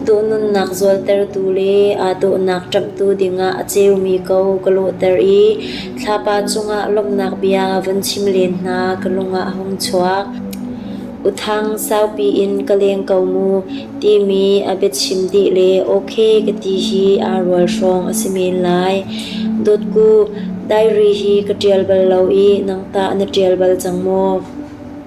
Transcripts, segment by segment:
Duhnunnak zualtertu le aa dawhnak ṭamhtu dingah a ceumi ko ka lawhter i thlapa cungah lawmhnak bia vun chim len hna ka lungah a hung chuak. Uthang saupi in ka leng ko mu timi a biachim dih le okay ka ti hi aa rual hrawng a si men lai. Dawtku, diary hi ka ṭial bal lo i nangtah na ṭial bal cang maw?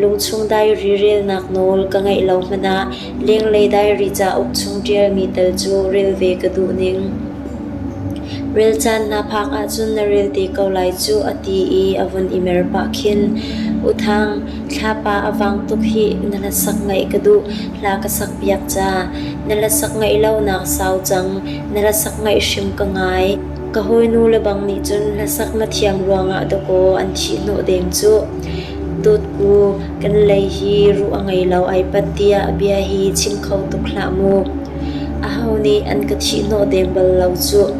Lungchung dairi relnak nawl ka ngeih lo hmanh ah Lenglei dairi cauk chung ṭialmi tal cu rel ve ka duh ning. Rel caan na phak ahcun na rel te ko lai cu a ti i a vun i mer pah khin. U Thang, thlapa a vang tuk hi na hlasak ngeih ka duh. Hla ka sakpiak ca. Na hlasak ngeih lonak sau cang. Na hlasak ngeih hrim ka ngai. Ka hawinu lebang nih cun hlasak na thiam ruangah dawkaw an thih hnawh deng cuh. Dawtku, kan lei hi ruh a ngei lo ai pat tiah bia hi chim kho tuk hlah mu. Aho nih an ka thihhnawh deng bal lo cuh.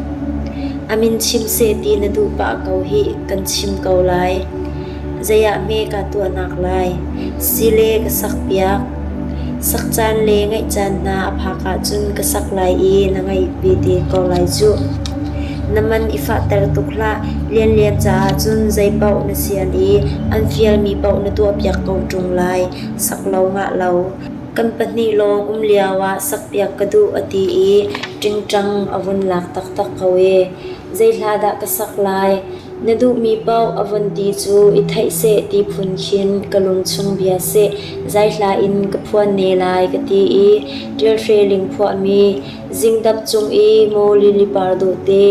A min chim seh ti na duh pah ko hi kan chim ko lai. Zeiah hme ka tuahnak lai? Sile ka sakpiak. Sak caan le ngaih caan hna a phak ahcun ka sak lai i na ngaih vete ko lai cuh. Na man i fahter tuk hlah, lianlian caah cun zei paoh na sian i an fialmi paoh na tuahpiak ko ṭung lai, sak lo ngah lo. Kan pahnih lawng um lioah sakpiak ka duh a ti i ṭingṭang a vun lak taktak ko ee. Zeihlah ka sak lai? Na duhmi paoh a vun ti cu i theih seh ti phun khin ka lungchung bia seh, zaihla in ka phuan ne lai ka ti i ṭialhre ling phuahmi Zingdap cung i maw lilipar dawte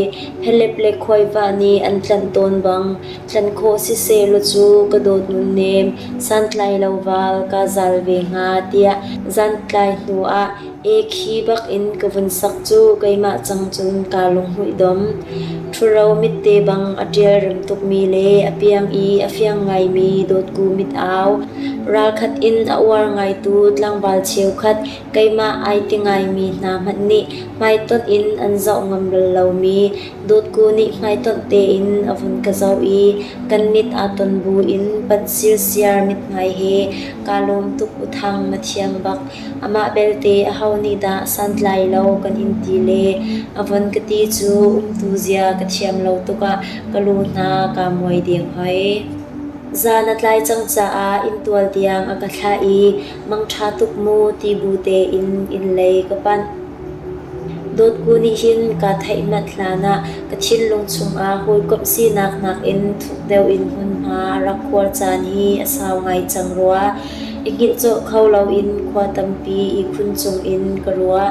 helep le khuaivah nih an tlanh tawn bang tlanh khawh sisehlaw cu ka dawt nunnem santlai lo val kaa zal ve hnga tiah zantlai hnu ah e khi bak in ka vun sak cu keimah cang cun kaa lunghmuih dom. Ṭhuro mitte bang a ṭial rem tukmi le a piang i a fiang ngaimi dawtku mit au. Ralkhat in a uar ngaitu tlangval cheukhat keimah ai ti ngaimi hna hmanh nih hmaitonh in an zoh ngam bal lomi dawtku nih hmaitonh tein a vun ka zoh i kan mit aa ton bu in panh sirsiar mithmai he kaa lawm tuk u Thang na thiam bak amah belte aho nih dah santlai lo kan in ti le a von ka ti cu umtu zia ka thiam lo tukah ka lu hna kaa muai deng hoi. Za na tlai cang caah inntual tiang a ka thlah i Mangṭha tuk maw ti bu tein innlei ka panh. Dawtku nih hin kaa theihmat hlanah ka thinlung chungah hawikomh sinak nakin thuk deuh in hmunhma a rak khuar caan hi a sau ngai cang rua. I hngilh cawlh kho loin khua tampi ihkhun cungin ka ruah.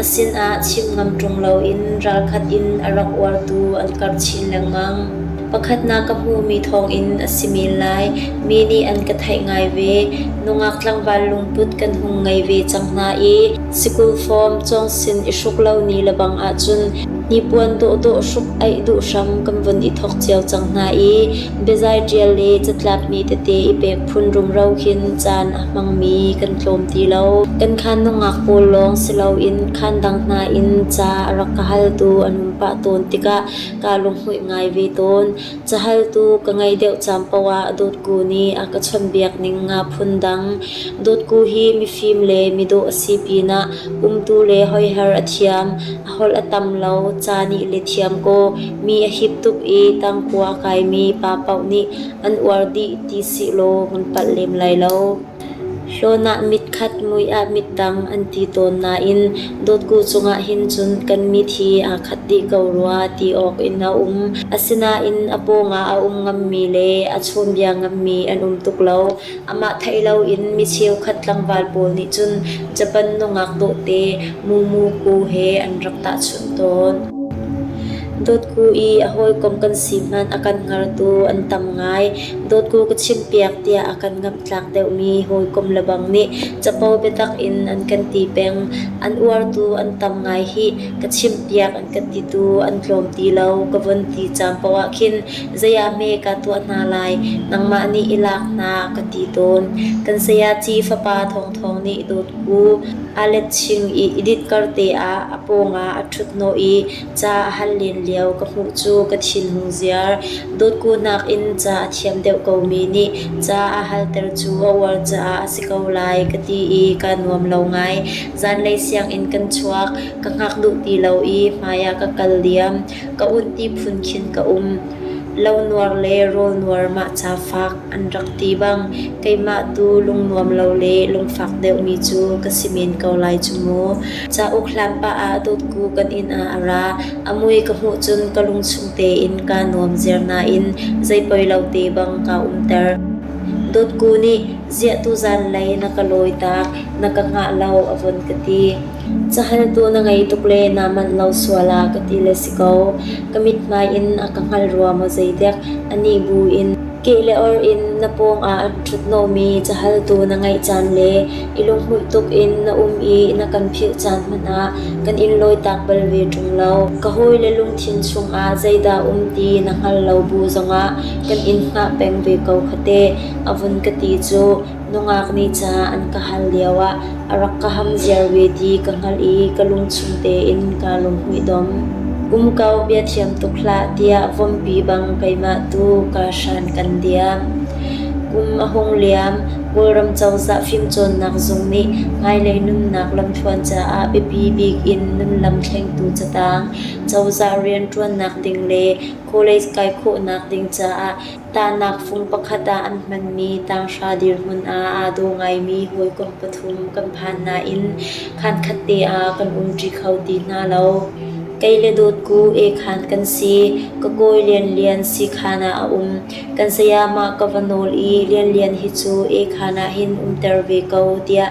A sinah chim ngam ṭung loin ralkhat in a rak uartu an karh chin lengmang. Pakhatnak ka hmuhmi thawngin a si men lai. Mi nih an ka theih ngai ve. Nungak tlangval lungput kan hung ngei ve cang hna i sikul form cawngsin i hruk lo ni le bang ahcun hnipuan dawhdawh hruk aih duh hram kan vun i thawk cio cang hna i Biazai ṭial le catlapmi tete i pek phun rumro khin caan a hmangmi kan tlawm ti lo. Kan khaan nungak pawl lawng si loin khaan dang hna in ca a rak ka haltu an um pah tawn tikah ka lunghmuih ngai ve tawn. Cahaltu ka ngei deuh caan poah dotku nih a ka chawnhbiak ning nga phundang. Dotku hi mifim le midawh a si pinah umtu le hoihar a thiam. holh a tam lo, ca nih le thiam kaw mi a hip tuk i tangkua kaimi pa paoh nih an uar dih ti sih law kan palh lem lai lo. Hlawn ah mit khat, mui ah mit dang an ti tawn nain dotku cungah hin cun kan mit hi aa khat dih ko rua ti awk in a um. Asinain a pawngah a um ngammi le a chawnbia ngammi an um tuk lo. Amah theih loin mi cheukhat tlangval pawl nih cun Japan nungak dawhte Mumu Ku he an rak tahchunh tawn. Dawtku i a hawikom kan si hmanh a kan hngartu an tam ngai. Dawtku ka chimpiak tiah a kan ngamhtlak deuhmi hawikom lebang nih capo biatak in an kan ti peng. An uartu an tam ngai hih. Ka chimpiak an kan titu an tlawm ti lo ka vun ti caan paoh ah khin Zei ah hme ka tuah hna lai, nangmah nih i lak hna, ka ti tawn. Kan sayaci fapa thawngthawng nih dawt u. Alet ching i i ditkarte ah a pawngah a ṭhuthnawh i ca a hal len lio ka hmuh cu ka thinlung ziar. Dawtku nakin ca a thiam deuh komi nih ca a halter cu a uar caah a si ko lai ka ti i kaa nuam lo ngai. Zanlei sianginn kan chuak, ka hngak duh ti lo i hmaiah ka kal diam. ka ut ti phun khin ka um. Lo nuar le rawl nuar mah ca fak an rak ti bang keimah tu lungnuam lo le lungfak deuhmi cu ka si men ko lai cu mu. Cauk hlan pah ah dotku kan inn ah a ra. A mui ka hmuh cun ka lungchung tein kaa nuam ziar nain zei poi lo te bang kaa umter. Dotku nih ziah tuzan lei na ka lawi tak, na ka hngah lo a von ka ti. Cahaltu na ngei tuk le naa manh lo sual ah ka ti le si ko. Ka mithmai in a ka hngal rua maw zeidek. Anih bu in keh le or in na pawngah an ṭhutnomi cahaltu na ngeih caan le i lunghmuih tuk in na um i na kan philh caan hmanh ah kan in lawitak bal ve ṭung lo. Ka hawi le lungthin chungah zeidah um ti na hngal lo bu zongah kan in hngah peng ve ko khate. A vun ka ti cu. Nungak nih ca an ka hal lioah a rak ka ham ziar ve ti ka hngalh i ka lungchung tein kaa lunghmuihdomh. Kum kau bia thiam tuk hlah tiah vompi bang keimah tu kaa hran kan diam. Kum a hung liam, Kawlram cozah fimcawnnak zung nih hmailei nunnak lamthluan caah biapi bik in nunlam thlengtu catang, cozah rianṭuannak ding le college kai khawhnak ding caah Tahnak fung pakhat ah an hmanmi tanghra dirhmun ah aa daw ngaimi hawikom pathum kan phan nain khankhat te ah kan um ṭi kho ti hna lo. Kei le dawt ku ekhan kan si. Ka kawi lianlian sikhan ah a um. Kan sayamah ka va nawl i lianlian hi cu ekhan ah hin umter ve ko tiah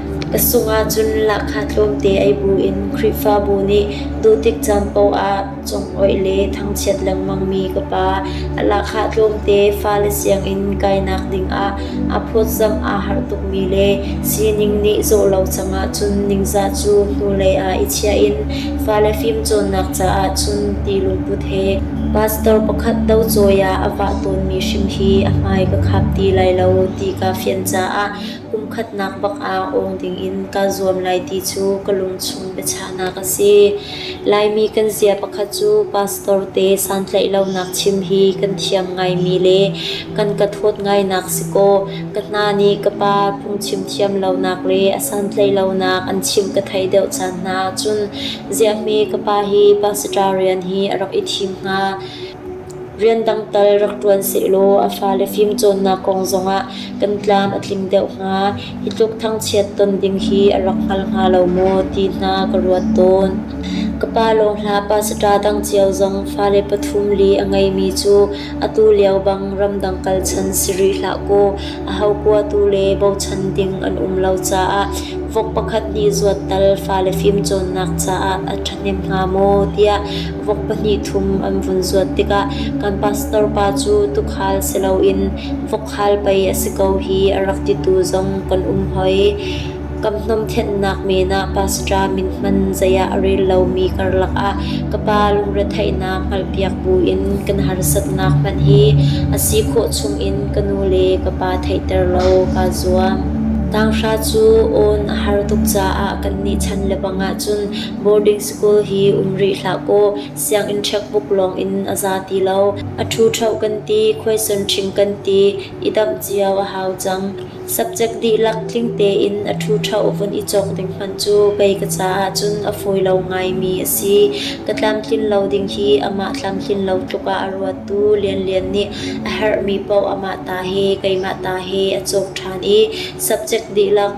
Ka sung ahcun lahkhah tlawmte ei buin Khrihfabu nih duhtik caan paoh ah congoih le thangchiat lengmangmi ka pa a lahkhah tlawmte fale sianginn kainak dingah aa phawtzamh aa harh tukmi le sining nih zawh lo cang ahcun ningzah cu hnulei ah i chiah in fale fimcawnnak caah cun ti lungput he pastor pakhat docawi ah a vah tawnmi hrim hi a hmai ka khap ti lai lo ti kaa fian caah Kumkhatnak bak ah awng dingin kaa zuam lai ti cu ka lungchung biachahnak a si. Laimi kan zia pakhat cu pastor te santlaih lonak chim hi kan thiam ngaimi le kan ka thawt ngainak si kaw ka hna nih ka pa phungchim thiam lonak le a santlaih lonak an chim ka thei deuh caan hna ahcun ziahme ka pa hi pastor rian hi a rak i thim hnga. Rian dang tal rak ṭuan sehlaw a fale fimcawnnak kong zongah kan tlam a tling deuh hnga. Hi tluk thangchiat ton ding hi a rak hngal hnga lo maw ti hna ka ruat tawn. Ka pa lawngla pasita dang cio zong fale pathum li a ngeimi cu atu lio bang ramdang kal chan si rih hlah kaw a ho kua tu le bochan ding an um lo caah vok pakhat hnih zuat tal fale fimcawnnak caah a ṭhahnem hnga maw tiah Vok pahnih thum an vun zuat tikah kan pastor pa cu tuukhal si loin vokkhal pei a si ko hi a rak ti tu zong kan um hoi. Kan hnawmhthennak men ah pastor min hman zei ah a rel lomi karlak ah ka pa lungretheihnak hngalhpiak buin kan harsatnak hmanh hi a si khawh chungin ka nu le ka pa theihter lo kaa zuam. Tanghra cu awn a har tuk caah kannih chan lebang ahcun boarding School hi um rih hlah kaw sianginn checkbook lawng in a za ti lo. A ṭhuṭheo kan ti, khuaison ṭhing kan ti i damh cio a hau cang. Subject dihlak tling tein a ṭhuṭheo vun i cawk ding hmanh cu kei ka caah cun a fawi lo ngaimi a si. Ka tlamtlin lo ding hi amah tlamtlin lo tluk ah a ruattu lianlian nih a herhmi paoh amah ta he, keimah ta he a cawk ṭhan i subject dihlak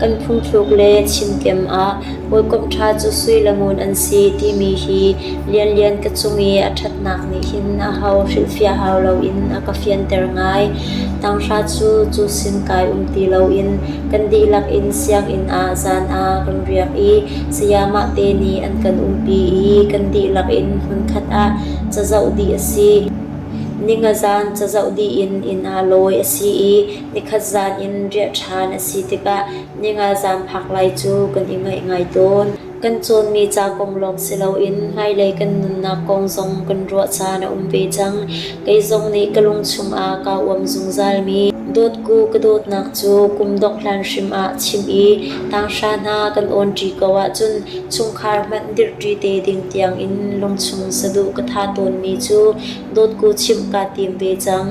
Kan phungthluk le chimttem ah hawikomh ṭha cu sui le ngun an si timi hi lianlian ka cung i a ṭhatnak nih hin a ho hrilhfiah hau loin a ka fianter ngai. Tanghra cu cu sin kai um ti loin kan dihlak in sianginn ah zan ah kan riak i sayamah te nih an kan umpi i kan dihlak in hmunkhat ah cazoh dih a si. Ni ngazan cazoh dih in inn ah lawi a si i Nikhat zan in riah ṭhan a si tikah ningalzan phak lai cu kan i ngaih ngai tawn. Kan cawnmi ca kong lawng si loin hmailei kan nunnak kong zong kan ruah caan a um ve cang. Kei zong nih ka lungchung ah kaa uam zungzalmi dawtku ka dawtnak cu kum dongh hlan hrim ah chim i tanghra hna kan awnṭi ko ahcun chungkhar hmanh dirṭi te ding tiangin lungchung saduh ka ṭha tawnmi cu dawtku chimh kaa tim ve cang.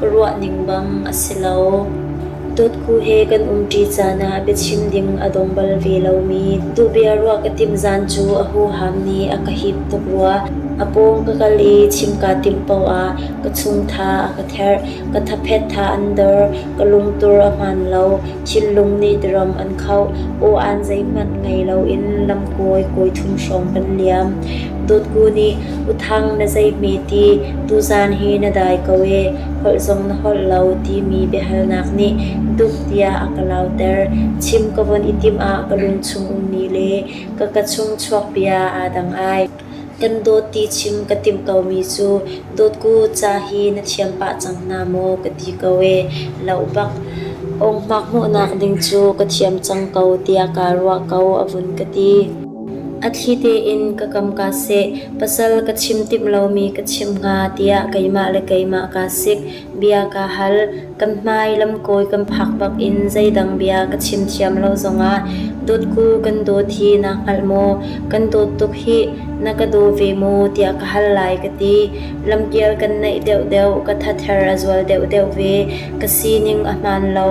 ruah ning bang a si lo. Dawtkhu he kan umṭi caan ah biachim ding a dong bal ve lomi duhbia ruah ka timh zan cu a huham nih a ka hip tuk rua. A pawng ka kal i chim kaa timh paoh ah ka chungtha a ka therh. Ka thaphet tha an dor. Ka lungtur a hmaan lo. Thinlung nih tiram an khauh. Aw aan zeihmanh ngei loin lamkawi kawi thum hrawng kan liam. Dawtku nih Uthang na zeihme ti tuzaan hi na dai ko ee holh zong na holh lo timi biahalnak nih dup tiah a ka lauter. Chim ka von i timh ah ka lungchung ummi le ka ka chung chuak bia aa dang ai. Kan dawt ti chim ka timh komi cu dawtku ca hi na thiam pah cang hna maw ka ti ko ee. Lo bak ongmak hmuhnak ding cu ka thiam cang ko tiah kaa ruah ko a vun ka ti. A thli tein ka kam kaa seh, pasal ka chim timh lomi ka chim hnga tiah keimah le keimah kaa sik. Bia kaa hal. Kan hmai lamkawi kan phak bak in zeidang bia ka chim thiam lo zongah dawtku kan dawt hi naa hngalh maw? Kan dawt tuk hih, na ka daw ve maw tiah ka hal lai ka ti. Lamkial kan naih deuhdeuh, ka thather a zual deuhdeuh ve, ka sining a hmaan lo.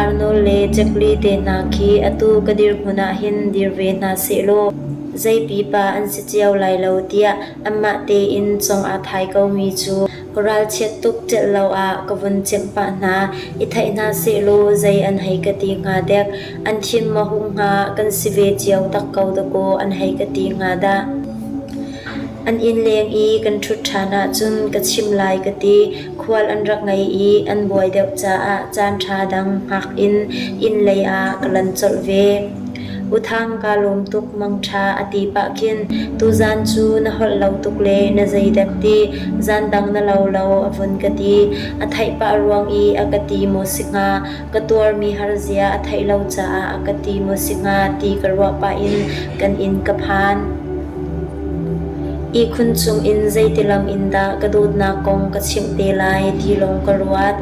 Arnold le Jacqueline te hna khi atu ka dirhmun ah hin dir ve hna sehlaw zei pipa an si cio lai lo tiah anmah tein cong aa thai komi cu ka ralchiat tuk celh lo ah ka vun chimh pah hna i theih hna sehlaw zei an hei ka ti hnga dek an thin maw hung hnga kan si ve cio tak ko dakaw an hei ka ti hnga dah. An inn leng i kan ṭhut ṭhan ahcun ka chim lai ka ti. khual an rak ngei i an buai deuh caah caanṭha dang hngak in inn lei ah ka lan colh ve. U Thang kaa lawm tuk mangṭha a ti pah khin tuzaan cu na holh lo tuk le na zeidek ti zaan dang na lo lo a vun ka ti. A theih pah ruang i a ka ti maw si hnga ka tuarmi har zia a theih lo caah a ka ti maw si hnga ti ka ruah pah in kan inn ka phan. Ihkhun chungin zeiti lam in dah ka dawtnak kong ka chimh te lai ti lawng ka ruat.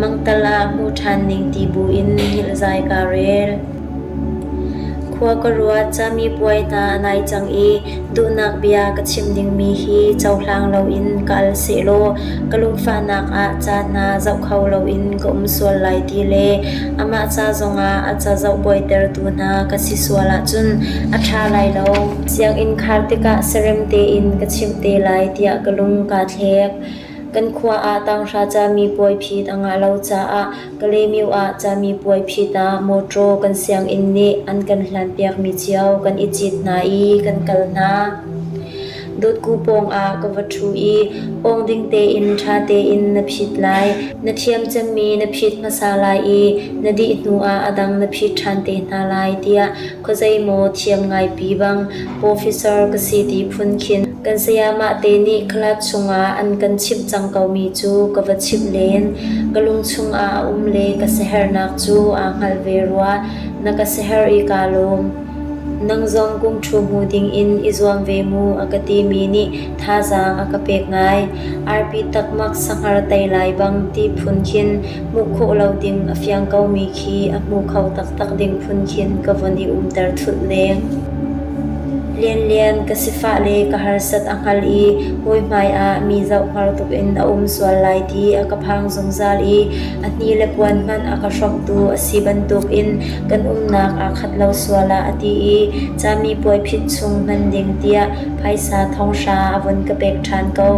Mangtal ah hmu ṭhan ning ti buin hngilhzai kaa rel. Khua ka ruat, cami puai hna nai cang i duhnak bia ka chim dingmi hi cohlang loin ka al sehlaw ka lungfahnak ah ca hna zoh kho loin ka um sual lai ti le amah ca zongah a ca zoh buaitertu hna ka si sual ahcun a ṭha lai lo. Sianginn khar tikah sarem tein ka chimh te lai tiah ka lung kaa thlek. Kan khua ah tanghra cami puai phit a ngah lo caah Kalymyo ah cami puai phit ah mawṭaw kan sianginn nih an kan hlanpiakmi cio kan i cit hna i kan kal hna. Dotku pawngah ka va ṭhu i awng ding tein ṭha tein na phit lai. Na thiam cemmi na phit hmasa lai i na dih hnuah a dang na phit ṭhan te hna lai tiah Khuazei maw thiam ngaipi bang Professor ka si ti phun khin kan sayamah te nih club chungah an kan chimh cang komi cu ka va chimh len. Ka lungchung ah a um le ka sihernak cu aa hngalh ve rua. Na ka siher i kaa lawm. Nang zong kum ṭhu hmu dingin i zuam ve mu a ka timi nih thazaang a ka pek ngai. Arpi takmak sanghar tei lai bang ti phun khin hmuh khawh lo ding a fiang komi khi a hmu kho taktak ding phun khin ka von i umter thulh leng. Lianlian ka sifah le ka harsat a hngal i hawi hmai ah mi zoh har tuk in a um sual lai ti a ka phang zungzal i a hni le puan hmanh a ka hrawktu a si bantuk in kan umnak aa khat lo sual ah a ti i cami puai phit chung hman ding tiah phaisa thonghra a von ka pek ṭhan ko.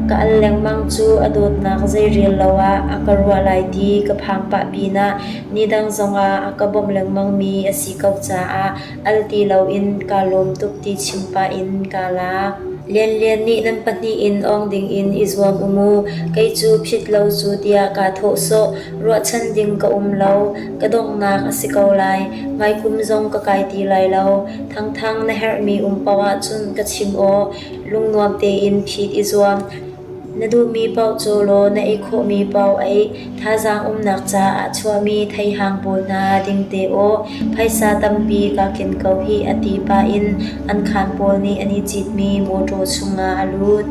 Ka al lengmang cu a dawtnak zeirel lo ah a ka ruah lai ti ka phang pah pinah nidang zongah a ka bawmh lengmangmi a si ko caah al ti loin kaa lawm tuk ti chim pah in kaa lak. Lian Lian nih nan pahnih in awng dingin i zuam u mu, kei cu phit lo cu tiah kaa thawh sawh. Ruahchan ding ka um lo, ka donghnak a si ko lai, hmaikum zong ka kai ti lai lo. Thangthang na herhmi um paoh ahcun ka chim awh. Lungnuam tein phit i zuam. Na duhmi paoh caw law na ei khawhmi paoh ei. Thazaang umnak caah chuahmi theihang pawl hna ding te aw. Phaisa tampi kaa ken ko hih a ti pah in an khaan pawl nih an i citmi mawṭaw chungah a lut.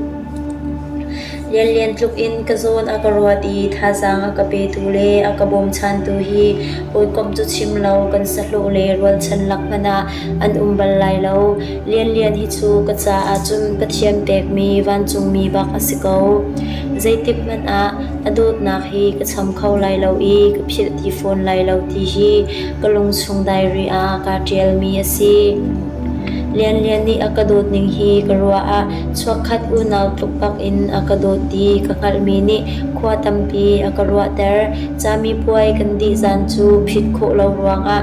Lianlian tluk in ka zawn a ka ruat i thazaang a ka petu le a ka bawmchantu hi hawikomh cu chim lo kan sahlawh le rualchan lak hmanh ah an um bal lai lo. Lianlian hi cu ka caah cun ka thiam pekmi vancungmi bak a si ko. Zeitik hmanh ah a dawtnak hi ka cham kho lai lo i ka philh ti fawn lai lo ti hi ka lungchung diary ah kaa ṭialmi a si. Lianlian nih a ka dawt ning hi ka ruah ah chuakkhat unau tluk bak in a ka dawt ti ka hngalhmi nih khua tampi a ka ruahter. Cami puai kan dih zan cu phit khawh lo ruangah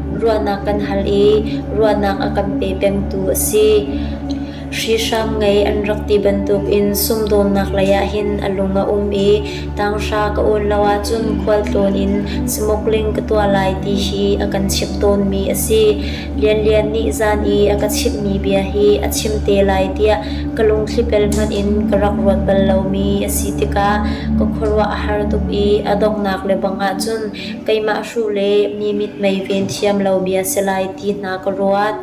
Ruahnak kan hal i ruahnak a kan pe pengtu a si. Hrihrang ngei an rak ti bantukin sumdawnnak lei ah hin a lung a um i tanghra ka awn lo ahcun khualtlawn in smuggling ka tuah lai ti hi a kan chimh tawnmi a si. Lianlian nih zan i a ka chimhmi bia hi a chim te lai tiah ka lungthlipel hmanh in ka rak ruat bal lomi a si tikah ka khuaruah a har tuk i a donghnak lebang ahcun Keimah hruh le mi mitmei ven thiam lomi si lai ti hna ka ruat.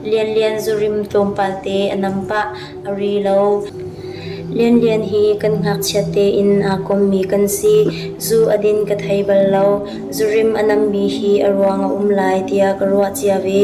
Lianlian zurim tlawmpal te a nam pah, a ri lo. Lianlian hi kan ngakchiat tein aa kommi kan si. Zu a din ka thei bal lo. Zurim a nammi hi a ruang a um lai tiah ka ruah cia ve.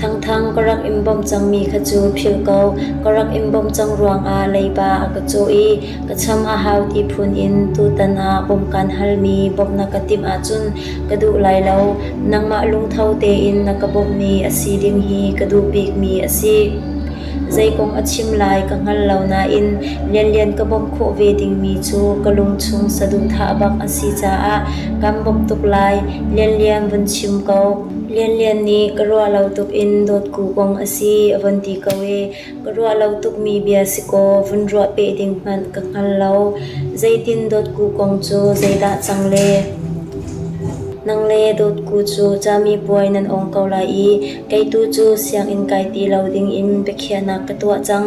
Thangthang ka rak in bawmh cangmi kha cu philh ko, ka rak in bawmh cang ruangah leiba a ka cawh i ka cham a hau ti phun in tutan ah bawmhkan halmi bawmh na ka timh ahcun ka duh lai lo. Nangmah lungtho tein na ka bawmhmi a si ding hi ka duh bikmi a si. Zei kong a chim lai ka hngal lo nain lianlian ka bawmh khawh ve dingmi cu ka lungchung saduhthah bak a si caah kan bawmh tuk lai. Lianlian vun chim ko. Lianlian nih ka ruah lo tuk in dawtku kong a si a vun ti ko ee. Ka ruah lo tukmi bia si kaw vun ruah peh ding hmanh ka hngal lo. Zeitin dawtku kong cu zeidah cang le? Nang le dawtku cu cami puai nan ong ko lai i kei tu cu sianginn kai ti lo ding in biakhiahnak ka tuah cang.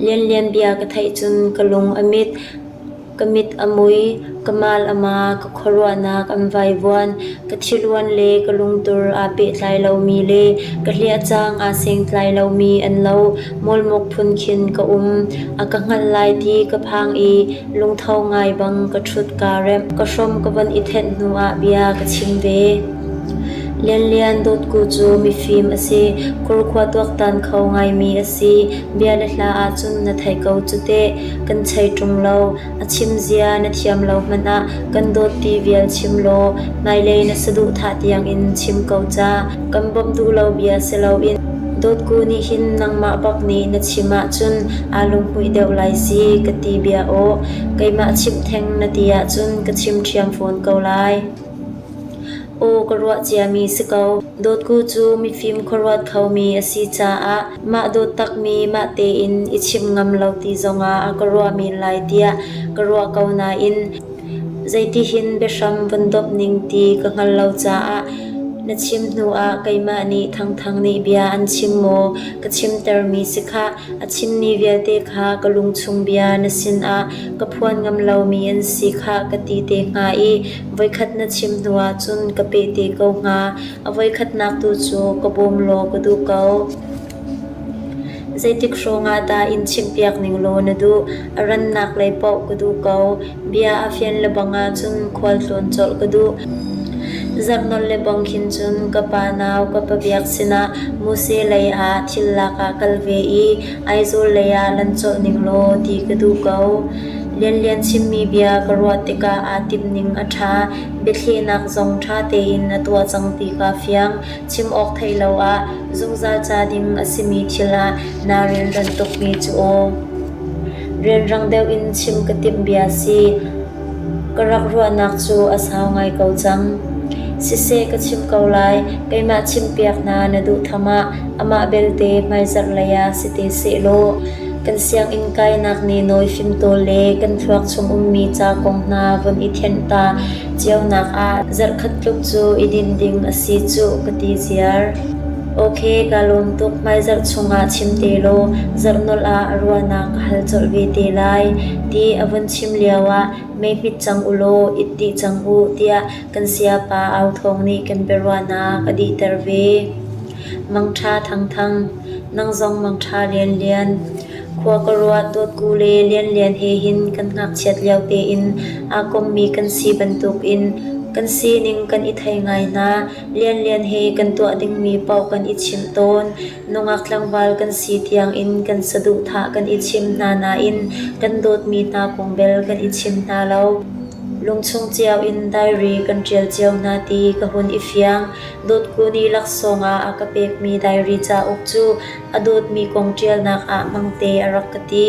Lianlianbia ka theih cun ka lung a mit, ka mit a mui, ka mal a ma, ka khuaruahnak an vaivuan, ka thiluan le ka lungtur aa pehtlai lomi le ka hliahcang aa sengtlai lomi an lo. Mawlmuk phun khin ka um. A ka hngalh lai ti ka phang i lungtho ngai bang ka ṭhut kaa remh. Ka hrom ka von i thenh hnuah bia ka chim ve. Lianlian Dawtku cu mifim a si, kurkhua tuaktan kho ngaimi a si, bia le hla ahcun na thei ko cu teh. Kan chei ṭung lo, a chim zia na thiam lo hmanh ah kan dawt ti vial chim law hmailei na saduhthah tiangin chim ko ca. Kan bawmh duh lo bia si loin Dawtku nih hin nangmah bak nih na chim ahcun aa lunghmuih deuh lai si ka ti bia aw. Keimah chimh theng na ti ahcun ka chim ṭhiam fawn ko lai. Aw ka ruah ciami si ko, dawtku cu mifim khuaruat khomi a si caah mah dawt takmi mah tein i chim ngam lo ti zongah a ka ruah men lai tiah ka ruah ko nain zeitihin biahram vun domh ning ti ka hngal lo caah na chim hnuah keimah nih Thangthang nih bia an chim maw ka chimtermi si khah a chimmi vialte kha ka lungchung bia na sinah ka phuan ngam lomi an si khah ka ti te hnga i Voikhat na chim hnu ahcun ka peh te ko hnga, a voikhatnak tu cu ka bawm law ka duh ko. Zeitik hrawngah dah in chimhpiak ning law na duh? A rannak lei paoh ka duh ko. Bia a fian lebang ahcun khualtlawn colh ka duh. Zarhnawn lebang khin cun ka pa nau ka pa biak sinah Muse lei ah thil lak ah kal ve i Aizawl lei ah nan colh ning law ti ka duh ko. Lianlian chimmi bia ka ruah tikah aa timning a ṭha. Biathlenak zong ṭha tein na tuah cang ti kaa fiang. Chim awk thei lo ah zungzal ca ding a simi thil ah naa rilran tukmi cu aw. Rianrang deuh in chim ka timh bia si. Ka rak ruahnak cu a sau ngai ko cang. Siseh ka chim ko lai, keimah chimpiak hna na duhtham ah amah belte hmaizarh lei ah si te sehlaw kan sianginn kainak nih nawi fimtawl le kan thluak chung ummi ca kong hna vun i thianh ta cionak ah zarhkhat tluk cu i din ding a si cuh ka ti ziar. Ok kaa lawm tuk hmaizarh chung ah chim te law zarh nolh ah ruahnak ka hal colh ve te lai ti a vun thim lioah mei hmit cang u law it dih cang u tiah kan sayapa Au Thawng nih kan biaruahnak a dihter ve. Mangṭha thangthang, nang zong mangṭha lianlian, khua ka ruat dawtku le lianlian he hin kan ngakchiat lio tein aa kommi kan si bantukin kan sining kan i thei ngai hna. Lianlian he kan tuah dingmi paoh kan i chimh tawn. Nungak tlangval kan si tiangin kan saduhthah kan i chim hna nain kan dawtmi hna kong bel kan i chim hna lo. Lungchung cio in diary kan ṭial cio hna ti ka hun i fiang. Dawt kun i laksawng ah a ka pekmi diary cauk cu a dawtmi kong ṭialnak ah hmangte a rak ka ti.